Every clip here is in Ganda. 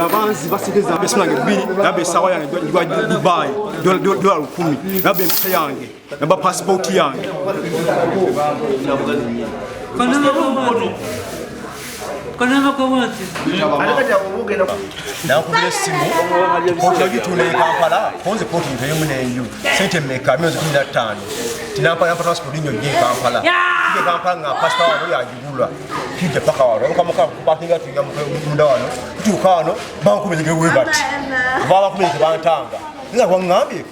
abanzi basekeza mbeso nange bibiri naba esawa yange gwa dubai dola lukumi naba empisa yange naba pasipoti yange nakubira essimu kontagitunda ekampala konze koti nteyemu nenju sente meka myezi kumi nattaano tinampala mpa transport nyo gye ekampala ekampala nga pasita wano yagigula kijja paka wano okamukapakinga tuinga munda wano tutuuka wano bankubezegewebati babakubezegebantanga nga wangambye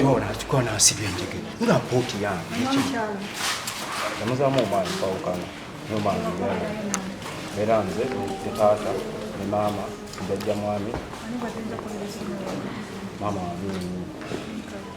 Dora alikuwa na asili ya njege. Una poti ya. Namuzamu omwana kwawukana. Omwana omwana. Era nze ne taata ne maama jajja mwami. Maama wa mimi.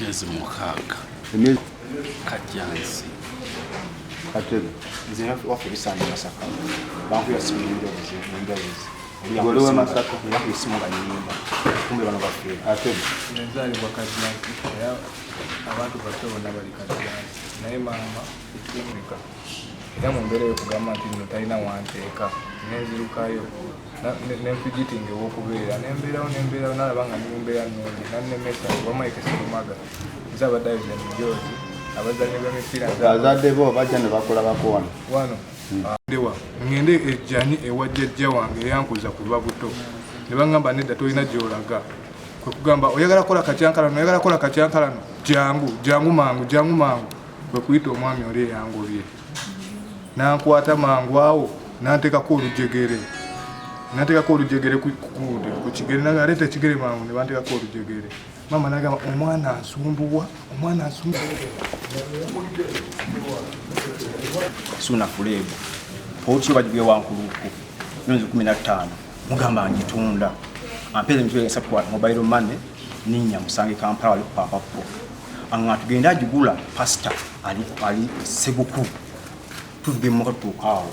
myezi mukaaga kajjansi katebe nze waffe bisaanyi masaka bankuya simu nenjabuzi nenjabuzi gole wa masaka yakuya simu nga nyimba kumbe bano bafeera katebe nenzaalibwa kajjansi era abantu baffe bonna bali kajjansi naye maama ekimunika era mu mbeera yokugamba nti bino talina wanteeka nenzirukayo nenfigitinga ewokubeera nembeerawo nembeerawo nalaba nga nimumbeera nungi nannemesa wamaike sirumaga nze abadde ayoza emijoozi abazanyi bemipiira azadde bo bajja ne bakulabako wano wano hmm. ah, ndewa ngende ejjani ewa jjajja wange eyankuza ku lwa buto ne baŋŋamba nedda tolina gyolaga kwe kugamba oyagala kola katyankalano oyagala kola katyankalano jangu jangu mangu jangu mangu kwe kuyita omwami oli eyangobye nankwata mangu awo nantekako olujegere natekako olujegere kukigere naleeta ekigere mangu nebantekako olujegere mama nagamba omwana nsumbuwa omwana nsumbuwasuna fuleebo otyo bagibye wankuluku myezi kumi nattaano mugamba ngitunda ampeera emitwe esatu mobile money ninya musange kampala wali kupaapapo Anga tugenda ajugula pastor ali ali seguku. Tuvuge mu katuka awo.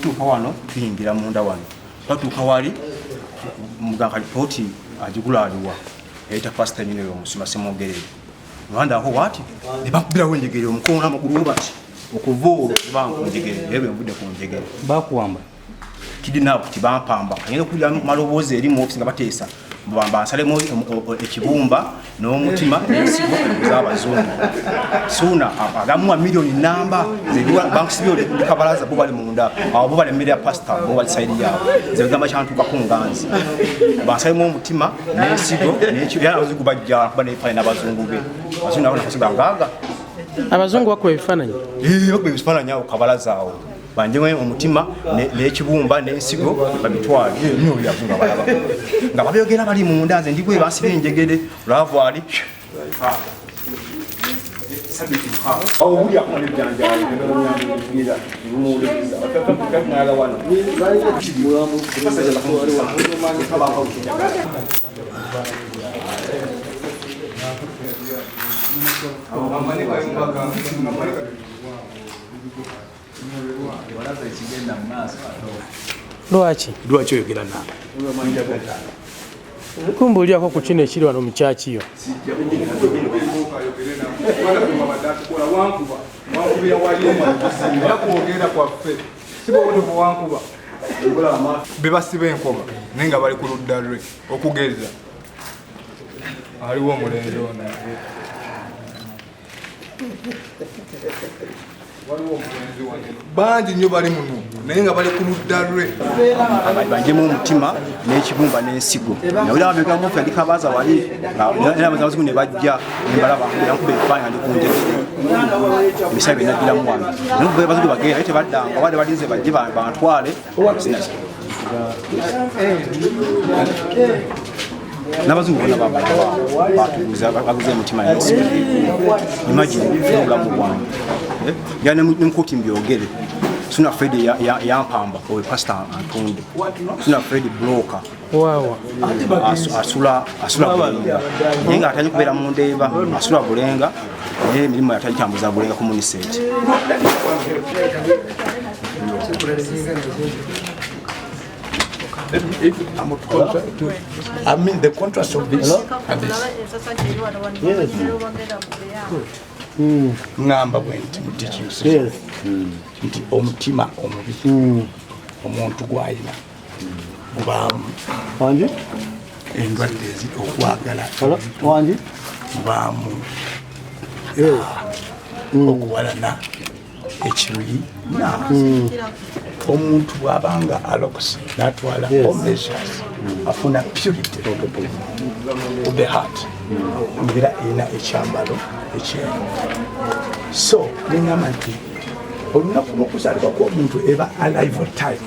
Tuka wano tuyingira munda wano. Batuka wali muganga ripoti ajugula aliwa. Eta pastor nyine yo musima semogere. Rwanda ho wati? Ne bakubira wenjegere omukono amaguru obati. Okuvoro bangu njegere. Ebe mbude kunjegere. Bakuwamba. kidinaabu kiti bampamba ngenda okuwulira maloboozi eri mu ofisi nga bateesa bamba nsalemu ekibumba n'omutima n'ensigo z'abazungu suuna agamuwa miliyoni namba bankusibye olikabalaza bo bali munda awo bo bali emmere ya pasita bo bali sayidi yaabo nze bigamba kyantuukako nganzi bansalemu omutima n'ensigo era abazungu bajja kuba nebifaanyi n'abazungu be abazungu nabo nakasiga ngaaga abazungu bakuba ebifaananyi eh, bakuba ebifaananyi awo kabalaza awo banjewe omutima n'ekibumba n'ensigo babitwale nyoyavu nga balaba nga babyogera bali munda nze ndigwe basiba enjegere laavu ali Thank you. lwaki lwaki oyogera naawe kumbuulyako ku kino ekiri wano mukyakiyo bebasiba enkoba naye nga bali ku ludda lwe okugeza aliwo omulenzi ono bangi nnyo bali muno naye nga bali ku ludda lwe bajemu omutima n'ekibumba n'ensigo nawulira babegamu ffe ndi kabaaza wali nabazimu ne bajja nembalabakuba ebifaanyi andi kunjaa ebisaa byenajjiramu wange naye bazigu bagenda naye tebaddanga wali balinze bajje bantwale n'abazungu bona batubuza baguze emitima imagine obulamu bwange eh? ya nemukuti mbyogere sina fred yampamba oyo pasita antonde sina fred bloka waawa asula asula bulenga naye nga atali kubeera mu ndeeba asula bulenga naye emirimu yatali tambuza bulenga ku muniseti If, if I'm a contract, to, I mean the contrast of this Hello? and this. Yes. Mm. ngamba bwenti mutikiusi nti omutima omubi omuntu gwalina mubaamu wangi endwadde ezi okwagala wangi mubaamu mm. okuwalana ekiruyi mm. omuntu bwabanga alokuse natwala omeasures mm. afuna purity of the heart mbeera erina ekyambalo ekyeru so nengamba nti olunaku lwokuzaalibwa kwomuntu eba alive time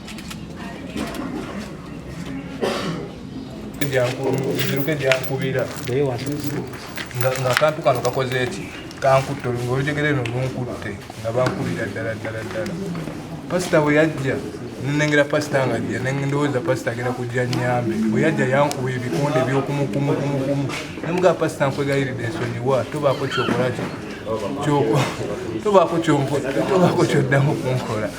ziruke gyankubira ngaakantu kano kakoze eki kankutte olunga olujegere no lunkutte nga bankubira ddala ddala ddala pasita bwe yajja nenengera pasita nga jja nendowooza pasita agenda kujja nyambe bwe yajja yankuba ebikonde ebyokumukumukumukumukumu nemugaa pasita nkwegayiride ensonyiwa tobaako kyokolaki tobaako kyoddamu kunkola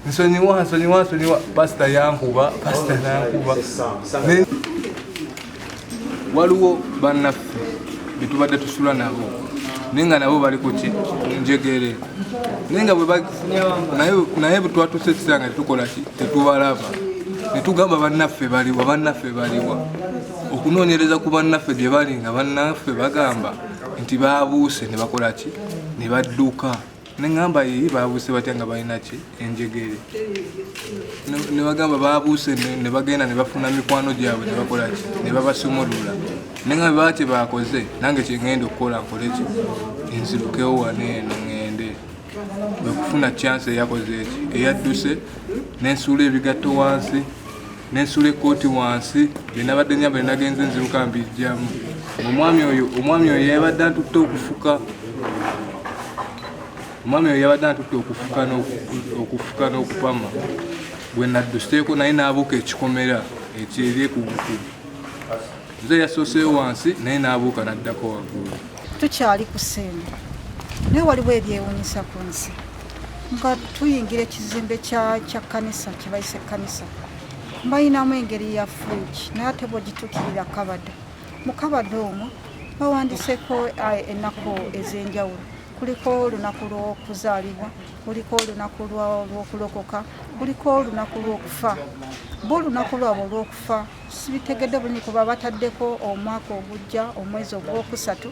nsonyiwa nsonyiwa nsonyiwa pasita yankuba pasita nankuba waliwo bannaffe betubadde tusula nabo naye nga nabo bali kuki njegere naye nga naye bwetwatusa ekiseera nga tetukolaki tetubalaba netugamba bannaffe baliwa bannaffe baliwa okunoonyereza ku bannaffe gye bali nga bannaffe bagamba nti babuuse ne bakola ki ne badduka Nengamba yii babuuse batya nga balina ki enjegere nebagamba babuuse nebagenda nebafuna mikwano gyabwe nebakolaki nebabasumulula nenga baba kyebakoze nange kyengenda okukola nkoleki nzirukewo waneeno ngende okufuna chance eyakoze eki eyadduse nensuula ebigatto wansi nensula ekkooti wansi byenabadde nyamba nenagenze nziruka mbijjamu omwami oyo omwami oyo yabadde antutte okufuka omwami oyo yabadde antutte okufuka okufuka n'okupama bwe nadduseeko naye n'abuuka ekikomera ekyeri ku bukulu nze yasooseyo wansi naye n'abuuka n'addako waggulu tukyali ku sente naye waliwo ebyewunyisa ku nsi nga tuyingira ekizimbe kya kanisa kyebayise kanisa bayinamu engeri ya fridge naye ate bwegitukirira kabada mu kabada omwo bawandiseko eh, ennaku ez'enjawulo kuliko olunaku lw'okuzaalibwa kuliko olunaku lw'okulokoka kuliko olunaku lw'okufa bo olunaku lwabwe olw'okufa sibitegedde bulungi kuba bataddeko omwaka ogujja omwezi ogwokusatu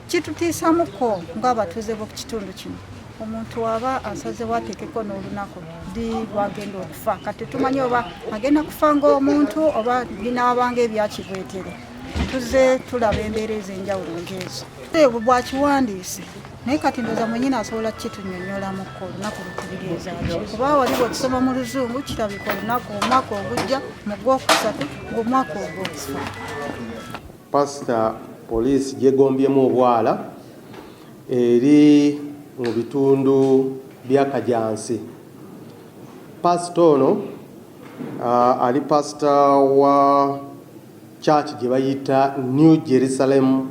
kitutiisamuko ng'abatuuze b'oku kitundu kino omuntu waba asazewo atekeko n'olunaku di lwagenda okufa kati tumanyi oba agenda kufa ngaomuntu oba binaabanga ebyakibwetere tuze tulaba embeera ez'enjawulo ngeezo ebwo bwakiwandiise naye kati ndoza mwenyini asobola kukitunyonyolamuko olunaku lukubirizaki kuba waliwo okusoma mu luzungu kirabika olunaku omwaka ogujja mu gwokusatu ngaomwaka ogwokufa Pasita poliisi gyegombyemu obwala eri mu bitundu bya Kajansi. Pasita ono uh, ali pasita wa church gye bayita New Jerusalem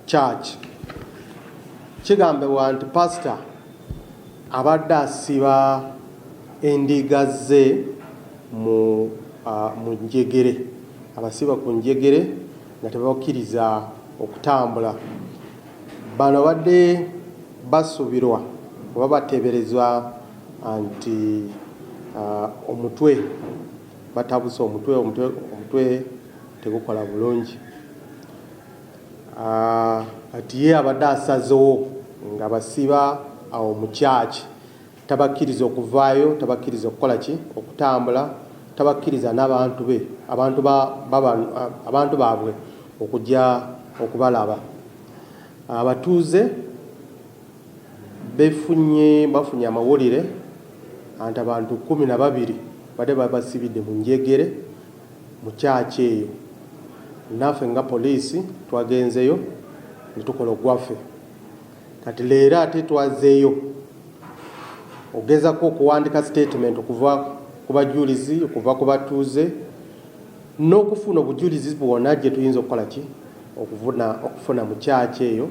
Church. Kigambibwa nti pasita abadde asiba endiga ze mu mu njegere abasiba ku njegere nga tebabakkiriza okutambula bano badde basuubirwa oba bateeberezwa nti omutwe batabuse omutwe omutwe omutwe tegukola bulungi ati ye abadde asazewo nga basiba awo mu kyaki Tabakkiriza okuvaayo, tabakkiriza okukola ki? Okutambula, tabakkiriza n'abantu be, abantu ba, baba, abantu baabwe okujja okubalaba. Abatuuze befunye, bafunye amawulire anti abantu kkumi na babiri badde babasibidde mu njegere mu kyaki eyo. Naffe nga poliisi twagenzeyo ne tukola ogwaffe. Kati leero ate twazeeyo ogezako okuwandika statement okuva ku bajulizi okuva ku batuuze n'okufuna obujulizi bwona gye tuyinza okukola ki okuvuna okufuna mu kyaki eyo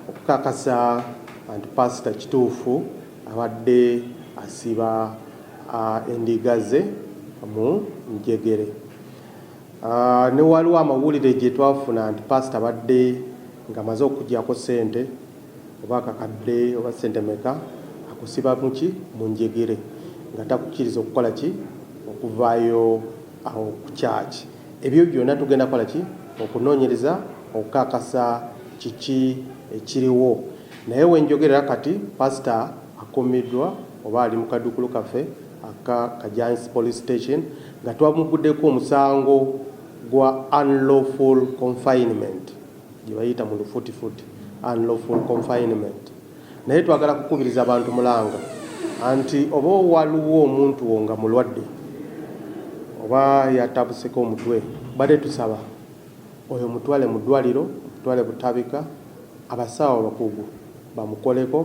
okukakasa anti pasita kituufu abadde asiba endiga ze mu njegere. Ah, ne waliwo amawulire gye twafuna nti paasita abadde ng'amaze okugyako ssente oba akakadde oba ssente meka akusiba muki mu njegere nga takukkiriza okukola ki okuvaayo awo ku kyaki ebyo byonna tugenda kukola ki okunoonyereza okukakasa kiki ekiriwo naye wenjogerera kati paasita akumiddwa oba ali mu kaduukulu kaffe aka Kajansi Police Station nga twamuggudeko omusango gwa unlawful confinement gye bayita mu lufutifuti unlawful confinement naye twagala kukubiriza bantu mulanga anti oba waliwo omuntu wo nga mulwadde oba yatabuseko omutwe bade tusaba oyo mutwale mu ddwaliro mutwale butabika abasawo abakugu bamukoleko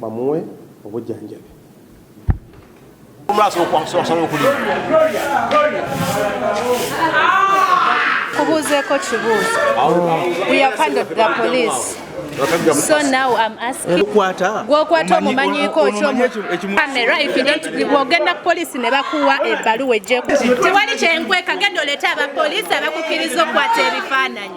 bamuwe obujjanjabi kubuuzeeko kibuuzo we have handled the police so now i'm asking gwokwata omumanyiko ogenda ku polisi ne bakuwa ebbaluwa ejjeku tewali kyenkweka genda oleeta abapoliisi abakukiriza okukwata ebifaananyi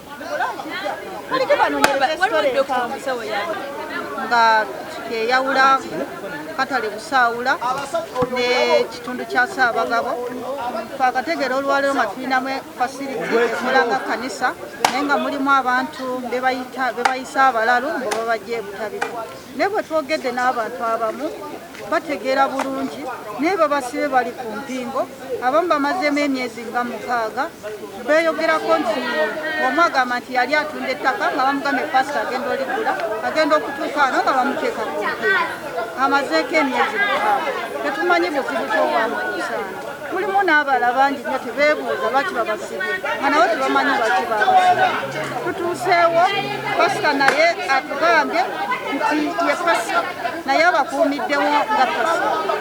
nga kyeyawula katale busaawula nekitundu kya saabagabo twakategeera olwaleero nga tulinamu fasiliti ekolanga kanisa naye nga mulimu abantu bebayisa abalalu nga babajja ebutabika naye bwetwogedde n'abantu abamu bategeera bulungi naye babasibe bali ku mpingo abamu bamazeemu emyezi nga mukaaga beyogerako nti omu agamba nti yali atunda ettaka nga bamugambye pasita agenda oligula agenda okutuuka ano nga bamuteeka ku mpingo amazeeko emyezi mukaaga tetumanyi buzibu kyobwamukusaana mulimu n'abala bangi nyo tebeebuuza lwaki babasibi nga nabo tebamanyi lwaki babasibi tutuuseewo pasita naye atugambye nti ye pasita naye abakuumiddewo nga pasita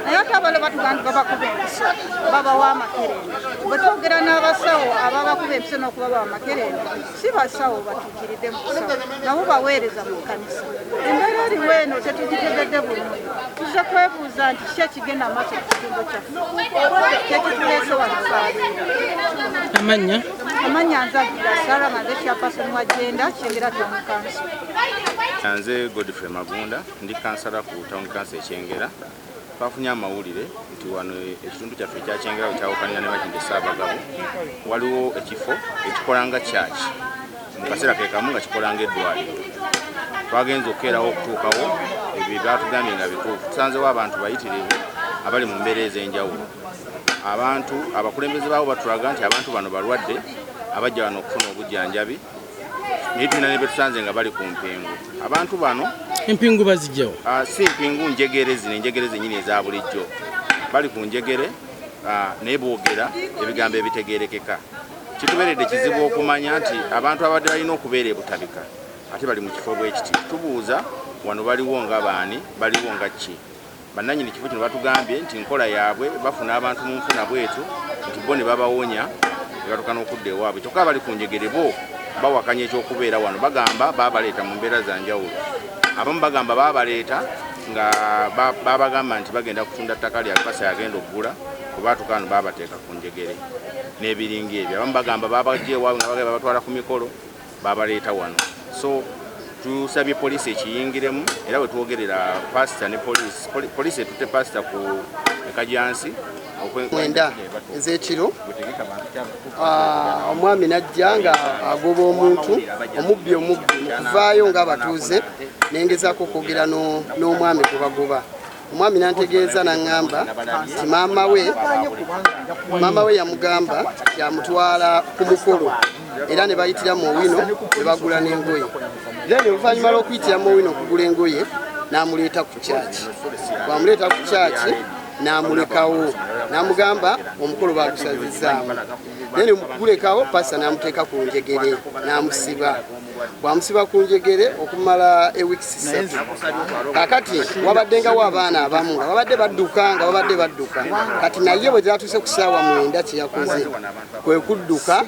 naye ate abalo batuga nti babakuba empiso babawa amakerenda bwe twogera n'abasawo ababakuba empiso n'okubabawa amakerenda si basawo batu kiridde mukusawo nabo baweereza mu kkanisa embeera eriwo eno tetugitegedde bulungi tuzze kwebuuza nti ki ekigenda maaso ku kitundu kyaffe kyekituleese wanasaali amanya amanya nzagira sara maze chapason wa jenda kyengera kyomukanso nze godfrey magunda ndi kansala ku town kanso ekyengera Twafunye amawulire nti wano ekitundu kyaffe ekya Kyengera we kyawukanira ne Makindye Ssaabagabo waliwo ekifo ekikola nga kyaki mu kaseera ke kamu nga kikola ng'eddwaliro. Twagenze okukeerawo okutuukawo ebyo ebyatugambye nga bituufu. Tusanzewo abantu bayitirivu abali mu mbeera ez'enjawulo. Abantu abakulembeze baabo batulaga nti abantu bano balwadde abajja wano okufuna obujjanjabi. naye tulina ne betusanze nga bali ku mpingu abantu bano empingu bazijjawo ah, si mpingu njegere zino enjegere zenyini eza bulijjo bali ku njegere ah, naye boogera ebigambo ebitegerekeka kituberedde kizibu okumanya nti abantu abadde balina okubeera ebutabika ate bali mu kifo bwekiti tubuuza wano baliwo nga baani baliwo nga ki Bannannyini kifo kino batugambye nti nkola yaabwe bafuna abantu mu nfuna bwetu nti bo ne babawonya ne batuuka n'okudda ewaabwe kyokka abali ku njegere bo bawakanya eky'okubeera wano bagamba baabaleeta mu mbeera za njawulo abamu bagamba baabaleeta nga babagamba nti bagenda kutunda ttaka lya lupasa yagenda okugula kubaatuka wano baabateeka ku njegere n'ebiringa ebyo abamu bagamba babajja ewaabwe nga bagala babatwala ku mikolo babaleeta wano so tusabye poliisi ekiyingiremu era wetwogerera pasita ne poliisi poliisi etutte pasita ku ekajansi mwenda ezekiro ah, omwami najja nga agoba omuntu omubbi omubbi mukuvaayo nga abatuuze nengezako okwogera n'omwami gwebagoba omwami nantegeeza naŋŋamba nti maama we maama we yamugamba yamutwala ku mukolo era ne bayitira mu owino ne bagula n'engoye then oluvannyuma lw'okuyitira mu owino okugula engoye n'amuleeta ku kyaki bwamuleeta ku kyaki n'amulekawo n'amugamba omukolo baagusazizaamu naye ne gulekawo pasa n'amuteeka ku njegere n'amusiba bwamusiba ku njegere okumala ewikisi satu kakati wabaddengawo abaana abamu nga babadde badduka nga babadde badduka kati naye bwe zatuuse ku saawa mwenda kyeyakoze kwe kudduka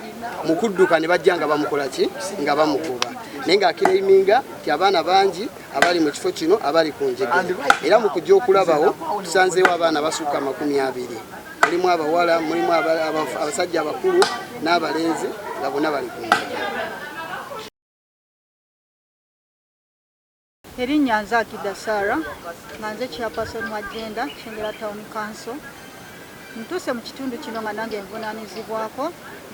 mu kudduka ne bajja nga bamukola ki nga bamugoba naye ng'akiraiminga nti abaana bangi abali mu kifo kino abali ku njegere era mu kujja okulabawo tusanzeewo abaana basukka amakumi abiri mulimu abawala mulimu abasajja abakulu n'abalenzi nga bona bali ku erinnya nze akida sara nga nze chairperson wa genda kyengera town council ntuuse mu kitundu kino nga nange nvunanyizibwako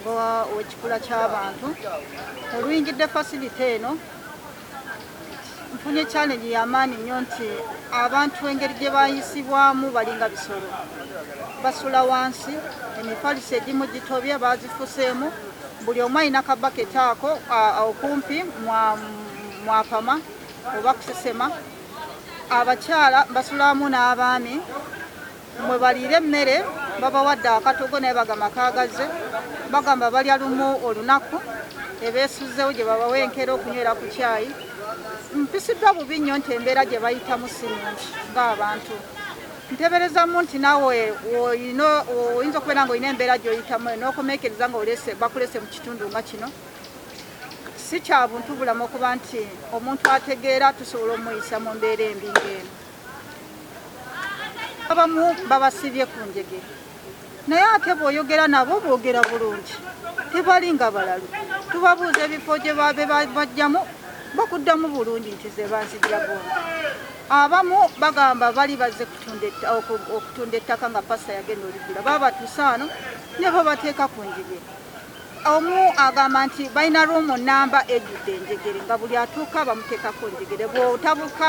ngaekikula ky'abantu oluyingidde fasilite eno nfunye challenge yamaanyi nnyo nti abantu engeri gye bayisibwamu balinga bisolo basula wansi emifalisi egimu gitobye bazifuseemu buli omu alina kabaketi ako okumpi mwapama oba kusesema abakyala basulamu n'abaami mwe baliira emmere babawadde akatogo naye bagamba kaagazze bagamba balya lumu olunaku ebeesuzzewo gye babawa enkeera okunywera ku kyayi mpisiddwa bubi nnyo nti embeera gye bayitamu si nungi ng'abantu nteberezamu nti nawe oyinza okubeera nga olina embeera gyoyitamu nokomekereza nga bakulese mu kitundu nga kino si kyabuntu bulamu okuba nti omuntu ategeera tusobola omuyisa mu mbeera embi ngaeno abamu babasibye ku njege naye ate bwoyogera nabo boogera bulungi tebali nga balalu tubabuuza ebifo gye babe bajjamu bakuddamu bulungi nti ze banzijira bombi abamu bagamba bali bazze okutunda ettaka nga pasa yagenda olibira baba batusaano nebo bateeka ku njege Omu agamba nti balina room namba ejjudde enjegere nga buli atuuka bamuteekako enjegere. Bw'otabuka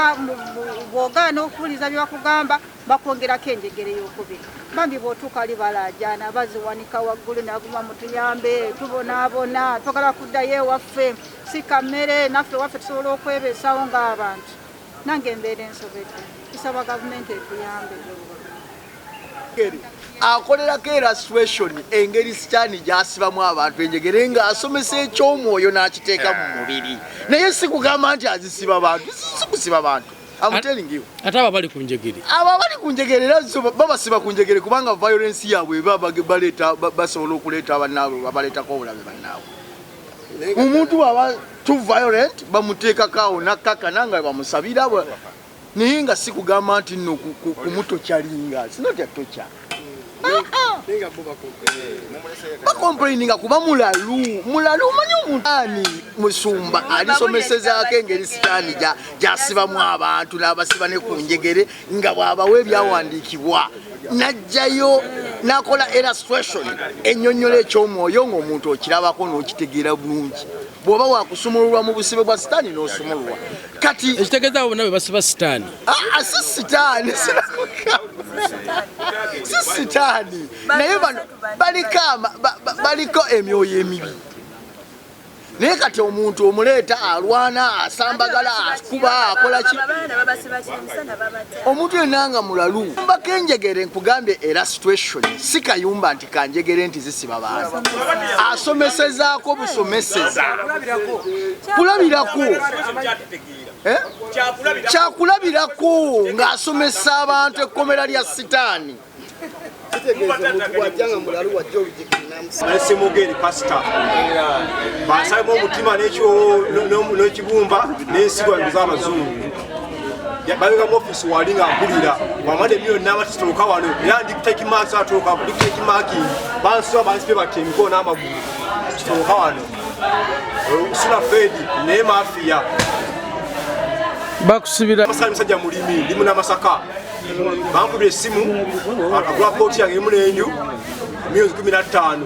bw'ogaana okuwuliza bye bakugamba bakwongerako enjegere y'okubiri. Bambi bw'otuuka wali balaajaana baziwanika waggulu naguma mutuyambe tubonaabona twagala kuddayo ewaffe si ka mmere naffe ewaffe tusobola okwebeesawo ng'abantu. Nange embeera ensobedde nsaba gavumenti etuyambe. akolerako erasituweshoni engeri sitaani gyasibamu abantu enjegere ng'asomesa eky'omwoyo n'akiteeka mu mubiri naye si kugamba nti azisiba bantu si kusiba bantu ate abo abali ku njegere abo abali ku njegere era babasiba ku njegere kubanga violensi yaabwe eba baleeta basobola okuleeta bannaabwe babaleetako obulabe bannaabwe omuntu waba tu violent bamuteekako awo nakkakana nga bamusabira naye nga sikugamba nti no kumutokyalinga sinotya tokya bakomplaininga kuba mulalu mulalu omanyi omuntu ani musumba alisomesezaako engeri sitaani gyasibamu abantu n'abasiba ne ku njegere nga bw'abawa ebyawandiikibwa n'ajjayo n'akola illustration ennyonnyola eky'omwoyo ng'omuntu okirabako n'okitegeera bulungi bwoba wakusumululwa mu busibe bwa sitaani n'osumululwa kati ekitegeeza abo bonna be basiba sitaani aa ah, ah, si sitaani si sitaani naye bano baliko baliko emyoyo emibi naye kati omuntu omuleeta alwana asambagala akuba akolaki omuntu yenna nga mulalu mbako enjegere nkugambye era situation si kayumba nti kanjegere nti zisiba bantu asomesezaako busomeseza kulabirako eh? kyakulabirako ng'asomesa abantu ekkomera lya sitaani simugeri pasita basalemu omutima nekibumba nensigwa z'abazungu balinga mu office wali nga mpulira wamala emyoyo naba tutuuka wano era ndi take marks atuuka ndi take marking bansiba bansibe bati emikono n'amagulu tutuuka wano sula fedi naye mafiya bakusibira masaka musajja mulimi ndi muna masaka bankubira essimu agula kooti yange emu n'enju milioni kumi na ttaano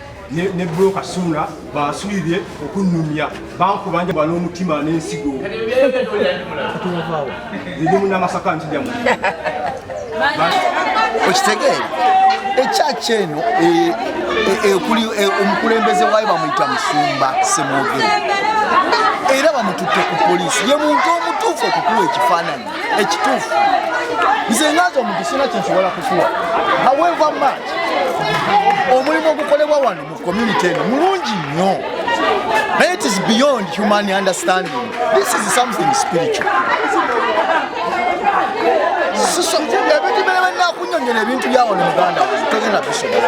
ne broka suuna basuubye okunnumya bankubanja bwa n'omutima n'ensigo ndi munamasaka nkijamu okitegeere ekyaki eno e, e, e, omukulembeze waayo bamuyita musumba semwogere era bamututte ku poliisi ye muntu omutuufu okukuwa ekifaananyi ekituufu nze ngaza omuntu sina kyensobola kukuwa however much omulimu ogukolebwa wano mu community eno mulungi nnyo naye it is beyond human understanding this is something spiritual ebintu bene benakunyonyola ebintu byawano muganda wange togenda bisobola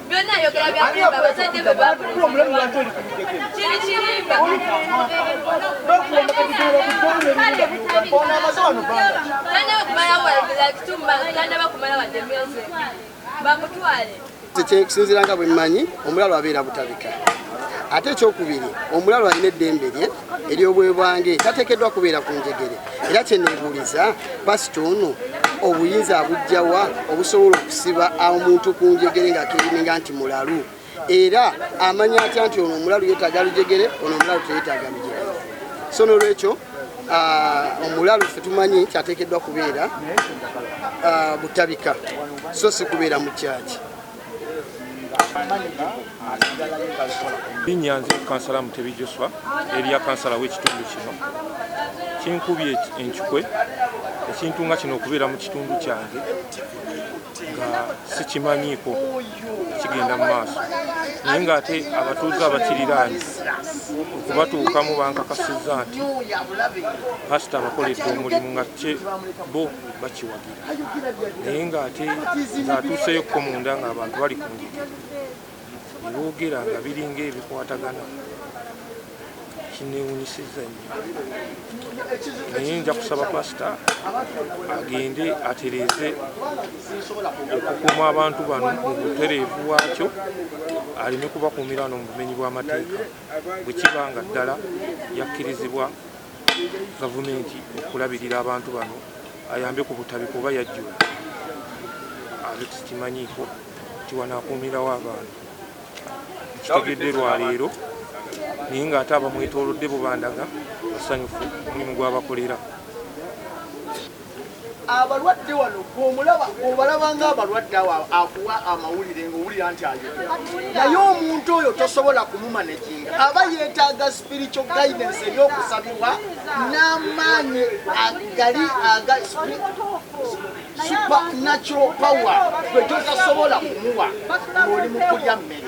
byonna ayogera byakulimba abazadde be babulikirimba ekisinziira nga bwe mmanyi omulalu abeera butabika ate ekyokubiri omulalu alina eddembe lye ery'obwebwange tateekeddwa kubeera ku njegere era kyeneebuuliza pasita ono obuyinza abujjawa obusobola okusiba omuntu ku njegere ng'akirininga nti mulalu era amanya atya nti ono omulalu yeetaaga lujegere ono omulalu teyeetaaga lujegere so n'olwekyo ah, omulalu ffe tumanyi nti ateekeddwa kubeera ah, butabika so si kubeera mu kyaki Linnya nze kansala Mutebi Joshua erya kansala w'ekitundu kino kinkubye enkikwe ekintu nga kino okubeera mu kitundu kyange nga sikimanyiiko kigenda mu maaso naye ng'ate abatuuze abakiriraanye okubatuukamu bankakasizza nti pasita abakoledde omulimu nga kye bo bakiwagira naye ng'ate ng'atuuseeyokko munda ng'abantu bali ku ngigi ne boogera nga biringa ebikwatagana kinewunyisiza nyo naye nja kusaba pasita agende atereeze okukuuma abantu bano mu butereevu bwakyo aleme kubakuumira no mu bumenyi bw'amateeka bwe kiba nga ddala yakkirizibwa gavumenti okulabirira abantu bano ayambe ku butabika oba yajjula abe tukimanyiiko nti wanaakuumirawo abantu kitegedde lwaleero naye ng'ate abamwetoolodde bubandaga basanyufu omulimu gwabakolera abalwadde wano gwomulaba obalaba nga abalwadde awo akuwa amawulire ngaowulira nti ayo naye omuntu oyo tosobola kumumaneginga aba yetaaga spiritual guidance ebyokusabibwa n'amaanyi agali aga supernatural power gwe gyotasobola kumuwa ng'oli mu kulya mmere